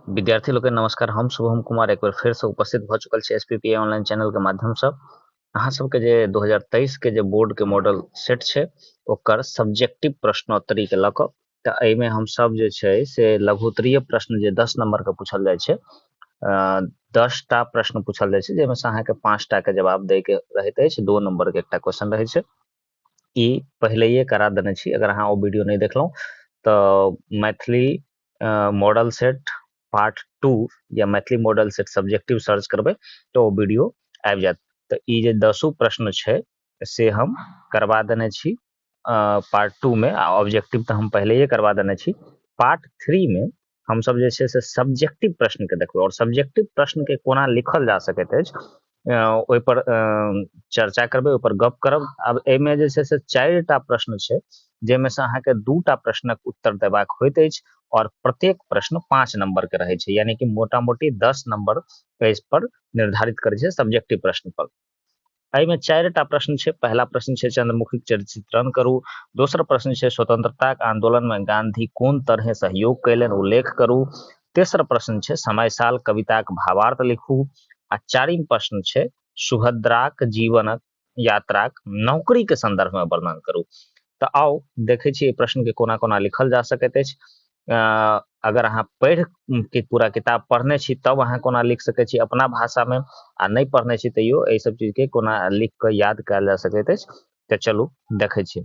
विद्यार्थी लोग के नमस्कार हम शुभम कुमार एक बार फिर से उपस्थित भ चुकल छी एसपीपीए ऑनलाइन चैनल के माध्यम से अहाँ सबके जे 2023 के जे बोर्ड के मॉडल सेट छै ओकर सब्जेक्टिव प्रश्नोत्तरी के लक त एहि में हम सब जे छै से लघुत्तरीय प्रश्न जे 10 नंबर के पूछल जाय छै दस टा प्रश्न पूछल जाय छै जेमे से अहाँ के पांच टा के जवाब दे के रहत अछि दो नंबर के एकटा क्वेश्चन रहै छै ई पहिलेये करा देने छी अगर अहाँ ओ वीडियो नहीं देखलहुँ तऽ Maithili model set part two या Maithili model set subjective search करबै तऽ ओ वीडियो आबि जायत तऽ ई जे दसो प्रश्न छै से हम करवा देने छी पार्ट टू में आ ऑब्जेक्टिव तऽ हम पहले करवा देने छी पार्ट थ्री में हम सब जे से सब्जेक्टिव प्रश्न के देखबै और सब्जेक्टिव प्रश्न के कोना लिखल जा सकैत अछि ओहिपर चर्चा करबै ओहिपर गप करब आब एहिमे जे छै से चारि टा प्रश्न छै जाहिमे से अहाँके दू टा प्रश्नक उत्तर देबाक होइत अछि और प्रत्येक प्रश्न पाँच नंबर के रहै छै यानी कि मोटा मोटी दस नंबर एहि पर निर्धारित करै छै सब्जेक्टिव प्रश्न पर एहिमे चारि टा प्रश्न छै पहिला प्रश्न छै चंद्रमुखी चित्रण करू दोसर प्रश्न छै स्वतंत्रताक आंदोलन में गांधी कोन तरहे सहयोग कयलनि उल्लेख करू तेसर प्रश्न छै समय साल कविताक भावार्थ लिखू आ चारिम प्रश्न छै सुभद्राक जीवनक यात्राक नौकरी के संदर्भ में वर्णन करू तऽ आउ देखै छी प्रश्न के कोना कोना लिखल जा सकैत अछि अगर अहाँ पढ़ि के पूरा किताब पढ़ने छी तब अहाँ कोना लिख सकै छी अपना भाषा में आ नहि पढ़ने छी तैयो एहि सब चीज के कोना लिख कऽ याद कयल जा सकैत अछि तऽ चलू देखै छी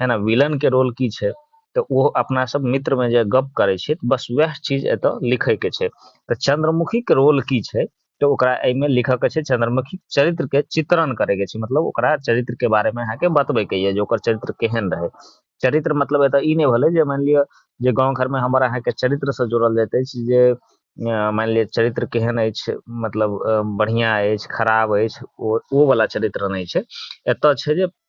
है ना विलन के रोल की छै तऽ ओ अपना सब मित्र में जे गप करे छै तऽ बस वएह चीज एतऽ लिखे के छै तऽ चंद्रमुखी के रोल की छै तऽ ओकरा एहिमे लिखऽ के छै चंद्रमुखी चरित्र के चित्रण करे के छै मतलब ओकरा चरित्र के बारे में अहाँके बतबे के ये जे ओकर चरित्र केहन रहे चरित्र मतलब एतऽ ई नहि भेलै जे मानि लिअ जे गाँव घर में हमर अहाँके चरित्र से जोड़ल जाइत अछि जे अ, मानि लिअ चरित्र केहन अछि मतलब अ, बढ़िया अछि खराब अछि ओ ओ वाला चरित्र नहि छै एतऽ छै जे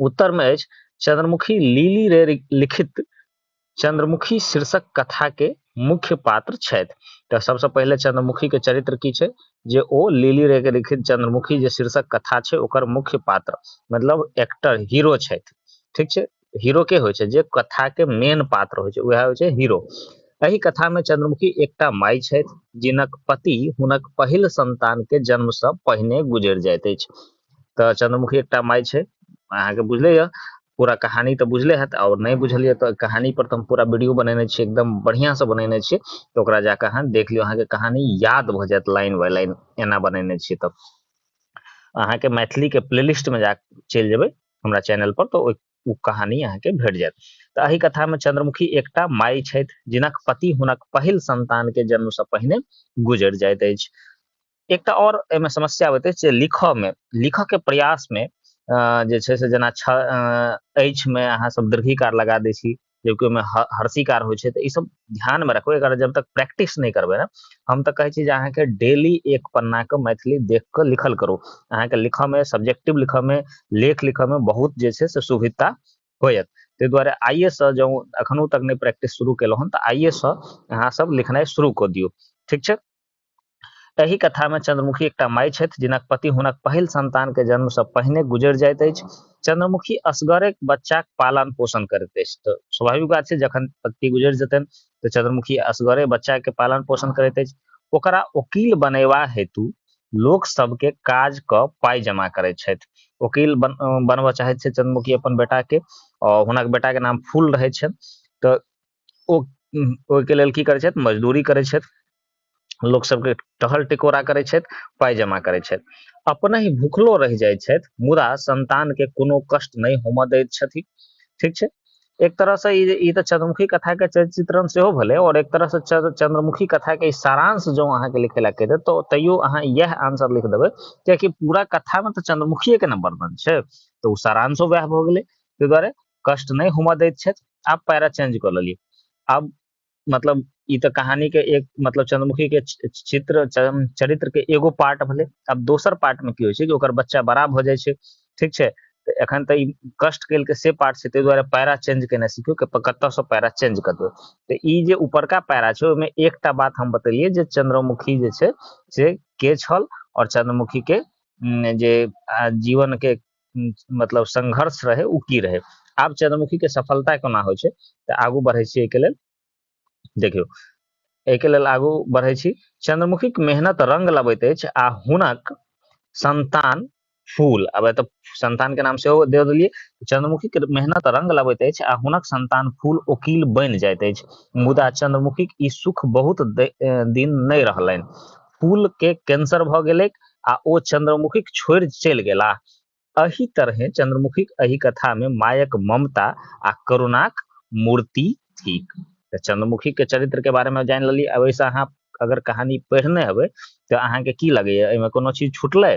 उत्तर में अछि चंद्रमुखी लीली रे लिखित चंद्रमुखी शीर्षक कथा के मुख्य पात्र छथि तऽ सबसँ पहिले चंद्रमुखी के चरित्र की छै जे ओ लीली रे के लिखित चंद्रमुखी जे शीर्षक कथा छै ओकर मुख्य पात्र मतलब एक्टर हीरो छथि ठीक छै हीरो के होइ छै जे कथा के मेन पात्र होइ छै वएह होइ छै हीरो एहि कथा में चंद्रमुखी एकटा माई छथि जिनक पति हुनक पहिल संतान के जन्म से पहिने गुजर जाइत अछि तऽ चंद्रमुखी एकटा माय छै अहाँके बुझले यऽ पूरा कहानी तऽ बुझले हैत आओर नहि बुझल यऽ तऽ कहानी पर तऽ हम पूरा वीडियो बनेने छियै एकदम बढ़ियां से बनेने छियै तऽ ओकरा जाकऽ अहाँ देख लियौ अहाँके कहानी याद भऽ जायत लाइन बाय लाइन एना बनेने छियै तब अहाँके मैथिलीके प्लेलिस्टमे जा चलि जेबै हमरा चैनल पर तऽ ओ कहानी अहाँके भेट जायत तऽ एहि कथामे चंद्रमुखी एकटा माय छथि जिनक पति हुनक पहिल संतानके जन्मसँ पहिने गुजर जाइत अछि एकटा और एहि में समस्या होइत अछि जे लिख में लिख के प्रयास में जे छै से जेना छ अछि में अहाँ सब दीर्घिकार लगा दै छी जबकि ओहिमे हर्षिकार होइ छै तऽ ई सब ध्यान में रखबै एकरा जब तक प्रैक्टिस नहीं करबै ना हम तऽ कहै छी जे अहाँके डेली एक पन्ना के मैथिली देख कऽ लिखल करू अहाँके लिखऽ में सब्जेक्टिव लिखऽ में लेख लिखऽ में बहुत जे छै से सुविधा होयत ताहि दुआरे आइए से जँ अखनो तक नहि प्रैक्टिस शुरू केलहुँ हन तऽ आइए से अहाँ सब लिखनाइ शुरू कऽ दियौ ठीक छै एहि कथामे चंद्रमुखी एकटा माय छथि जिनक पति हुनक पहिल संतानके जन्मसँ पहिने गुजरि जाइत अछि चंद्रमुखी असगरे बच्चाक पालन पोषण करैत अछि तऽ स्वाभाविक बात छै जखन पति गुजरि जेतनि तऽ चंद्रमुखी असगरे बच्चाके पालन पोषण करैत अछि ओकरा वकील बनेबा हेतु लोक सबके काज कऽ पाइ जमा करैत छथि वकील बन बनबऽ चाहैत छथि चंद्रमुखी अपन बेटाके आओर हुनक बेटाके नाम फूल रहैत छनि तऽ ओ ओहिके लेल की करै छथि मजदूरी करै छथि लोक सबके टहल टिकोरा करै छथि पाइ जमा करै छथि अपने ही भूखलो रहि जाइ छथि मुदा संतानके कोनो कष्ट नहि होमऽ दैत छथि ठीक छै एक तरहसँ ई ई तऽ चंद्रमुखी कथाके चित्रण सेहो भेलै आओर एक तरहसँ चंद्रमुखी कथाके सारांश जँ अहाँके लिखे लए कहि तऽ तैयो अहाँ इएह आंसर लिख देबै कियाकि पूरा कथामे तऽ चंद्रमुखिएके ने वर्णन छै तऽ ओ सारांशो वएह भऽ गेलै ताहि दुआरे कष्ट नहि हुअ दैत छथि आब पैरा चेंज कऽ लेलियै आब मतलब ई तऽ कहानी के एक मतलब चंद्रमुखी के चित्र चरित्र के एगो पार्ट भेलै अब दोसर पार्ट में की होइ छै कि ओकर बच्चा बड़ा भऽ जाइ छै ठीक छै तऽ एखन तऽ ई कष्ट केलकै से पार्ट छै ताहि दुआरे पैरा चेंज केनाइ सीखियौ कि कतयसँ पैरा चेंज कऽ देबै तऽ ई जे ऊपरका पैरा छै ओहिमे एकटा बात हम बतेलियै जे चंद्रमुखी जे छै से के छल आओर चंद्रमुखी के जे जीवन के मतलब संघर्ष रहै ओ की रहै आब चंद्रमुखीके सफलता कोना होइ छै तऽ आगू बढ़ै छी एहिके लेल देखियौ एहिके लेल आगू बढ़ै छी चंद्रमुखीक मेहनत रंग लबैत अछि आ हुनक संतान फूल अब एतऽ संतान के नाम से दे दिलिये चंद्रमुखी के मेहनत रंग लबैत अछि आ हुनक संतान फूल ओकील बनि जाइत अछि मुदा चंद्रमुखीक ई सुख बहुत दिन नहि रहलनि फूल के कैंसर भऽ गेलै आ ओ चंद्रमुखीक छोड़ि चलि गेलाह। अहि तरहें चंद्रमुखीक अहि कथा मे मायक ममता आ करुणाक मूर्ति थिक। तऽ चंद्रमुखी के चरित्र के बारे मे जानि लेलियै। आब एहि सं अहाँ अगर कहानी पढ़ने हेबै तऽ अहाँ के की लगैया एहि मे कोनो चीज छूटलै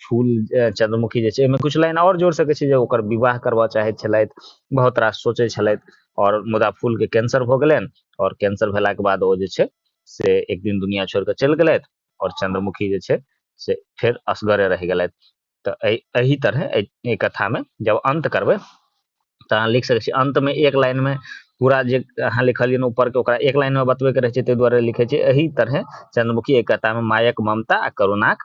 फूल चंद्रमुखी जे छै एहिमे किछु लाइन आओर जोड़ि सकैत छी जे ओकर विवाह करबऽ चाहैत छलथि बहुत रास सोचैत छलथि आओर मुदा फूलके कैंसर भऽ गेलनि आओर कैंसर भेलाके बाद ओ जे छै से एक दिन दुनिया छोड़ि कऽ चलि गेलथि आओर चंद्रमुखी जे छै से फेर असगरे रहि गेलथि तऽ एहि तरह एहि कथामे जब अंत करबै तऽ अहाँ लिख सकैत छी अंतमे एक लाइनमे पूरा जे अहाँ लिखलियनि ऊपरके ओकरा एक लाइनमे बतबैके रहै छै ताहि दुआरे लिखै छै एहि तरह चंद्रमुखी एहि कथामे मायक ममता आ करुणाक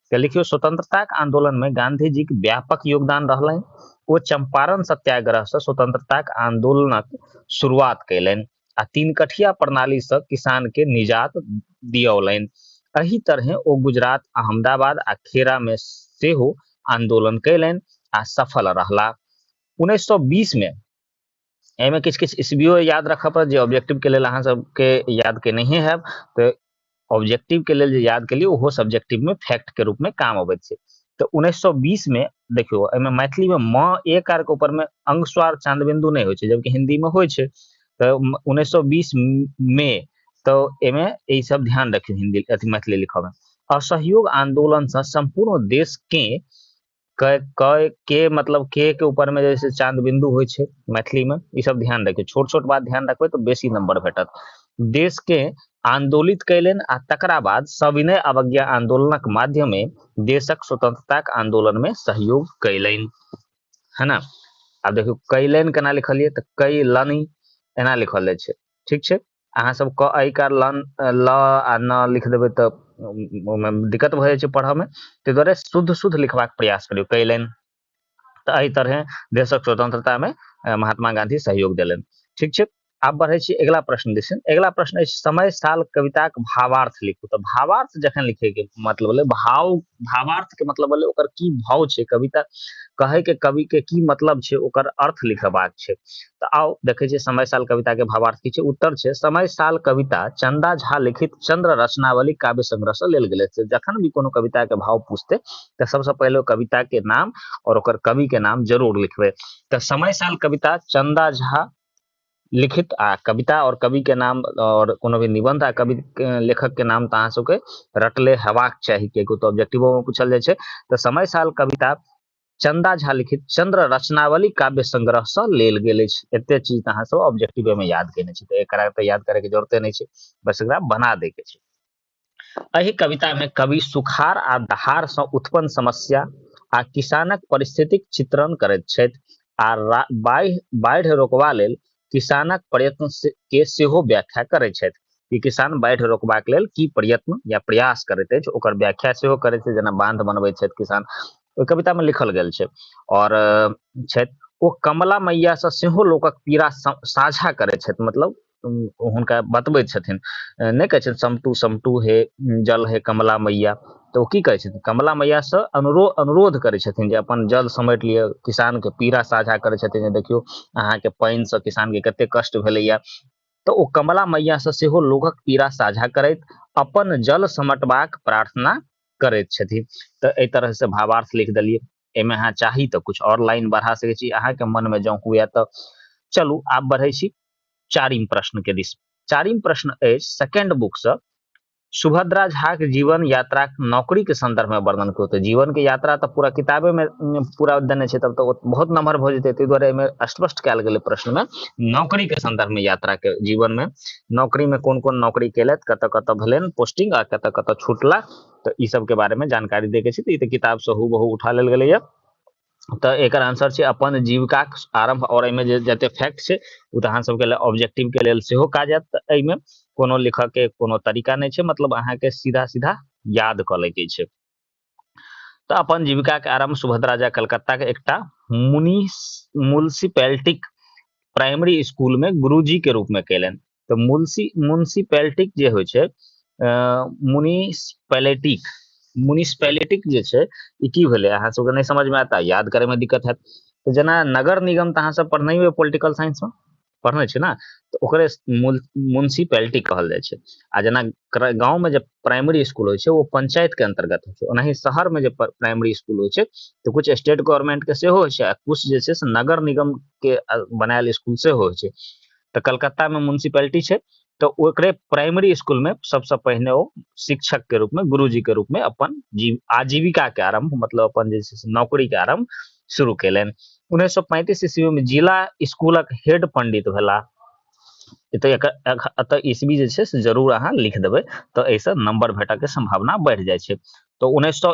तऽ लिखियो स्वतंत्रता के आंदोलन में गांधी जी के व्यापक योगदान रहले ओ चंपारण सत्याग्रह से स्वतंत्रता के आंदोलनक शुरुआत कैलन आ तीन कठिया प्रणाली से किसान के निजात दियौलनि एहि तरहे ओ गुजरात अहमदाबाद आ खेरा में सेहो आंदोलन कैलन आ सफल रहला 1920 में एहिमे किछु किछु इसबियो याद राखऽ पड़त जे ऑब्जेक्टिवके लेल अहाँ सबके याद के नहि हैब तऽ ऑब्जेक्टिवके लेल जे याद केलियै ओहो सब्जेक्टिवमे फैक्टके रूपमे काम अबैत छै तऽ उन्नैस सए बीसमे देखियौ एहिमे मैथिलीमे म ए कार के ऊपरमे अंगस्वार चांदबिंदु नहि होइ छै जबकि हिन्दीमे होइ छै तऽ उन्नैस सए बीस मे तऽ एहिमे एहि सब ध्यान रखियौ हिन्दी अथी मैथिली लिखऽमे असहयोग आंदोलनसँ सम्पूर्ण देशके कै कै के मतलब के के ऊपर में जैसे चांद बिंदु होइ छै मैथिली में ई सब ध्यान रखियो छोट छोट बात ध्यान रखबै तो बेसी नंबर भेटत देश के आंदोलित कैलन आ तकरा बाद सविनय अवज्ञा आंदोलनक माध्यमे देशक स्वतंत्रताक आंदोलन में सहयोग कैलन है ना अब देखियो कैलन केना लिखलिए तो कैलन एना लिखल जाय छै ठीक छै अहाँ सब क आई कार लन ल आ न लिख देबै तऽ ओहिमे दिक्कत भऽ जाइ छै पढ़ऽमे ताहि दुआरे शुद्ध शुद्ध लिखबाक प्रयास करियौ कयलनि तऽ एहि तरहे देशक स्वतंत्रतामे महात्मा गांधी सहयोग देलनि ठीक छै आब बढ़ै छी अगिला प्रश्न दिस अगिला प्रश्न अछि समय साल कविताक भावार्थ लिखू तऽ भावार्थ जखन लिखैके मतलब भेलै भाव भावार्थके मतलब भेलै ओकर की भाव छै कविता कहैके कविके की मतलब छै ओकर अर्थ लिखबाक छै तऽ आउ देखै छियै समय साल कविता के भावार्थ की छै उत्तर छै समय साल कविता चंदा झा लिखित चंद्र रचनावली काव्य संग्रह से लेल गेलै से जखन भी कोनो कविता के भाव पूछते तऽ सबसे पहिले कविता के नाम और ओकर कवि के नाम जरूर लिखबे तऽ समय साल कविता चंदा झा लिखित आ कविता और कवि के नाम और कोनो भी निबंध आ कवि लेखक के नाम तऽ अहाँ सबके रटले हेबाक चाही कियाकि तो ऑब्जेक्टिवो में पूछल जाय छै तऽ समय साल कविता चंदा झा लिखित चंद्र रचनावली काव्य संग्रह से लेल गेल एते चीज अहाँ सब ऑब्जेक्टिव में याद केने छी तो एकरा तो याद करे के जरूरते नहीं छै बस एकरा बना दे के छै एहि कविता में कवि सुखार आ दहार से उत्पन्न समस्या आ किसानक परिस्थितिक चित्रण करैत छथि आ बाढ़ि रोकवा लेल किसानक प्रयत्न के सेहो व्याख्या करैत छथि कि किसान बाढ़ि रोकबाक लेल की प्रयत्न या प्रयास करैत अछि ओकर व्याख्या सेहो करैत छथि जेना बांध बनबैत छथि किसान ओहि कवितामे लिखल गेल छै आओर छथि ओ कमला मैयासँ सेहो लोकक पीड़ा साझा करैत छथि मतलब हुनका बतबैत छथिन नहि कहै छथिन समटू समटू हे जल हे कमला मैया तऽ ओ की करै छथिन कमला मैयासँ अनुरो अनुरोध करै छथिन जे अपन जल समटि लिअ किसानके पीड़ा साझा करै छथिन जे देखियौ अहाँके पानिसँ किसानके कतेक कष्ट भेलैए तऽ ओ कमला मैयासँ सेहो लोकक पीड़ा साझा करैत अपन जल समटबाक प्रार्थना करैत छथिन तऽ एहि तरहसँ भावार्थ लिख देलियै एहिमे अहाँ चाही तऽ किछु आओर लाइन बढ़ा सकै छी अहाँके मनमे जँ हुए तऽ चलू आब बढ़ै छी चारिम प्रश्नके दिस चारिम प्रश्न अछि सेकेंड बुकसँ सुभद्रा झा के जीवन यात्रा नौकरी के संदर्भ में वर्णन करू तऽ जीवन के यात्रा तऽ पूरा किताबे में उम, पूरा देने छै तब तऽ बहुत नमहर भऽ जेतै ताहि दुआरे एहिमे स्पष्ट कयल गेलै प्रश्न में नौकरी के संदर्भ में यात्रा के जीवन में नौकरी में कोन कोन नौकरी केलथि कतऽ कतऽ भेलनि पोस्टिंग आ कतऽ कतऽ छूटला तऽ ई सब के बारे में जानकारी दै के छै तऽ ई तऽ किताब से हूबहू उठा लेल गेलैया तऽ एकर आंसर छै अपन जीविकाक आरंभ आओर एहिमे जे जते फैक्ट छै ओ तऽ अहाँ सबके लेल ऑब्जेक्टिव के लेल सेहो काज आयत तऽ एहिमे कोनो लिखऽ के कोनो तरीका नहि छै मतलब अहाँके सीधा सीधा याद कऽ लैके छै तऽ अपन जीविकाक आरंभ सुभद्रा झा कलकत्ताक एकटा मुनि म्यूनिसिपैलिटीक प्राइमरी स्कूलमे गुरुजीके रूपमे कयलनि तऽ मुंसी म्यूनसिपैलिटीक जे होइ छै म्यूनिसपैलिटीक म्यूनिसपैलिटीक जे छै ई की भेलै अहाँ सबके नहि समझमे आयत आ याद करैमे दिक्कत हैत तऽ जेना नगर निगम तऽ अहाँसभ पढ़ने यए पोलिटिकल साइंसमे पढ़ने छै ने तऽ ओकरे म्यूनसिपैलिटी कहल जाइ छै आ जेना गाँवमे जे प्राइमरी स्कूल होइ छै ओ पंचायतके अंतर्गत होइ छै ओनाही शहरमे जे प्राइमरी स्कूल होइ छै तऽ किछु स्टेट गवर्नमेंटके सेहो होइ छै आ किछु जे छै से नगर निगमके बनायल स्कूल सेहो होइ छै तऽ कलकत्ता में म्यूनसिपैलिटी छै तऽ ओकरे प्राइमरी स्कूल में सबसे पहिने ओ शिक्षक के रूप में गुरुजी के रूप में अपन जीव आजीविका के आरंभ मतलब अपन जे छै से नौकरी के आरंभ शुरू केलनि उन्नैस सौ पैंतीस ईस्वी में जिला स्कूलक हेड पंडित भेला एतऽ एतऽ ईस्वी जे छै से जरूर अहाँ लिख देबै तऽ एहिसँ नंबर भेटऽ के संभावना बढ़ि जाइ छै तऽ उन्नैस सौ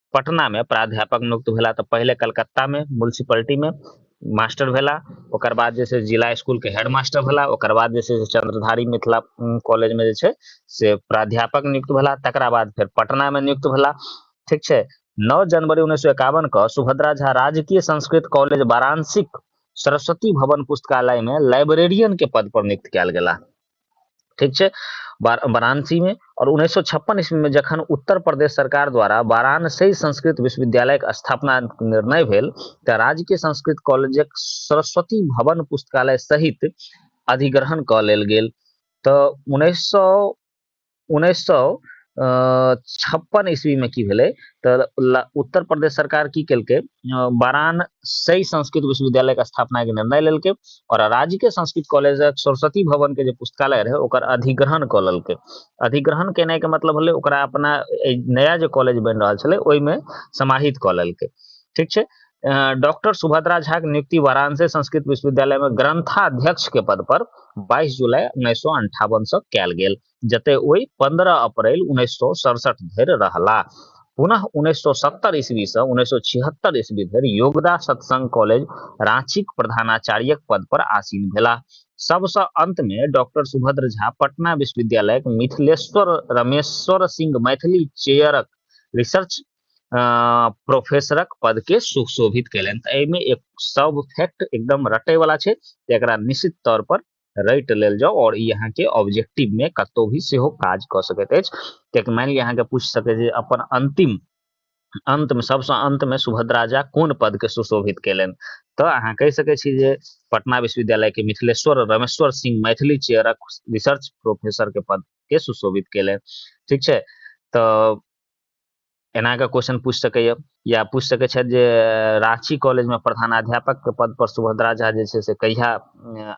पटना में प्राध्यापक नियुक्त भेला तो पहले कलकत्ता में म्यूनसिपलिटी में मास्टर भेला ओकर बाद जे छै जिला स्कूल के हेड मास्टर भेला ओकर बाद जे छै से चंद्रधारी मिथिला कॉलेज में जे छै से प्राध्यापक नियुक्त भेला तकरा बाद फेर पटना में नियुक्त भेला ठीक छै नौ जनवरी उन्नैस सौ एकावन के सुभद्रा झा राजकीय संस्कृत कॉलेज वाराणसी सरस्वती भवन पुस्तकालय में लाइब्रेरियन के पद पर नियुक्त कयल गेला ठीक छै वाराणसी में और उन्नैस सौ छप्पन ईस्वी में जखन उत्तर प्रदेश सरकार द्वारा वाराणसी संस्कृत विश्वविद्यालय के स्थापना निर्णय भेल तऽ राजकीय संस्कृत कॉलेजक सरस्वती भवन पुस्तकालय सहित अधिग्रहण कऽ लेल गेल तऽ उन्नैस सौ उन्नैस सए छप्पन ईस्वीमे की भेलै तऽ उत्तर प्रदेश सरकार की केलकै बारान सही संस्कृत विश्वविद्यालयके स्थापनाके निर्णय लेलकै आओर राजकीय संस्कृत कॉलेज सरस्वती भवनके जे पुस्तकालय रहै ओकर अधिग्रहण कऽ लेलकै अधिग्रहण केनाइके मतलब भेलै ओकरा अपना नया जे कॉलेज बनि रहल छलै ओहिमे समाहित कऽ लेलकै ठीक छै डॉक्टर सुभद्रा झा के नियुक्ति वाराणसी संस्कृत विश्वविद्यालय में ग्रंथाध्यक्ष के पद पर 22 जुलाई उन्नैस सौ अंठावन से कयल गेल जते ओहि 15 अप्रैल उन्नैस सौ सड़सठ धरि रहला पुनः उन्नैस सौ सत्तर ईस्वी से उन्नैस सौ छिहत्तर ईस्वी धरि योगदा सत्संग कॉलेज रांचीक प्रधानाचार्यक पद पर आसीन भेला सबसे अंत में डॉक्टर सुभद्र झा पटना विश्वविद्यालय मिथिलेश्वर रमेश्वर सिंह मैथिली चेयरक रिसर्च प्रोफेसरक पद के सुशोभित कैलन तऽ एहिमे एक सब फैक्ट एकदम रटे वाला छै तऽ एकरा निश्चित तौर पर रट लेल जाओ और ई अहाँके ऑब्जेक्टिव में कतौ भी सेहो काज कऽ सकैत अछि कियाकि मानि लिअ अहाँके पूछ सके जे अपन अंतिम अंत में सबसे अंत में सुभद्रा झा कोन पद के सुशोभित कैलन तऽ अहाँ कहि सके छी जे पटना विश्वविद्यालय के मिथिलेश्वर रमेश्वर सिंह मैथिली चेयरक रिसर्च प्रोफेसर के पद के सुशोभित कैलन ठीक छै तऽ एनाके क्वेश्चन पूछ सकैए या पूछ सकैत छथि जे राँची कॉलेजमे प्रधानाध्यापकके पद पर सुभद्रा झा जे छै से कहिया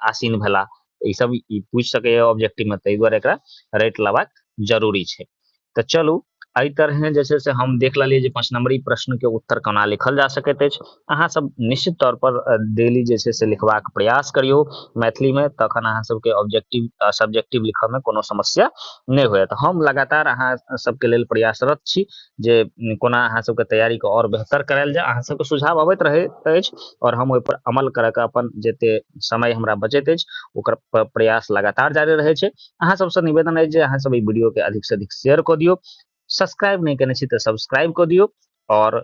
आसीन भेला ई सब ई पूछ सकैए ऑब्जेक्टिव में ताहि दुआरे एकरा रटि लेबाक जरूरी छै तऽ चलू एहि तरहे जे छै से हम देख लेलियै जे पाँच नंबरी प्रश्नके उत्तर कोना लिखल जा सकैत अछि अहाँ सब निश्चित तौर पर डेली जे छै से लिखबाक प्रयास करियौ मैथिलीमे तखन अहाँ सबके ऑब्जेक्टिव सब्जेक्टिव लिखऽमे कोनो समस्या नहि होयत हम लगातार अहाँ सबके लेल प्रयासरत छी जे कोना अहाँ सबके तैयारीके आओर बेहतर करायल जाय अहाँ सबके सुझाव अबैत रहैत अछि आओर हम ओहिपर अमल करऽ के अपन जते समय हमरा बचैत अछि ओकर प्रयास लगातार जारी रहै छै अहाँ सबसँ निवेदन अछि जे अहाँ सब ई वीडियोके अधिकसँ अधिक शेयर कऽ दियौ सब्सक्राइब नहि केने छी तऽ सब्सक्राइब कऽ दियौ आओर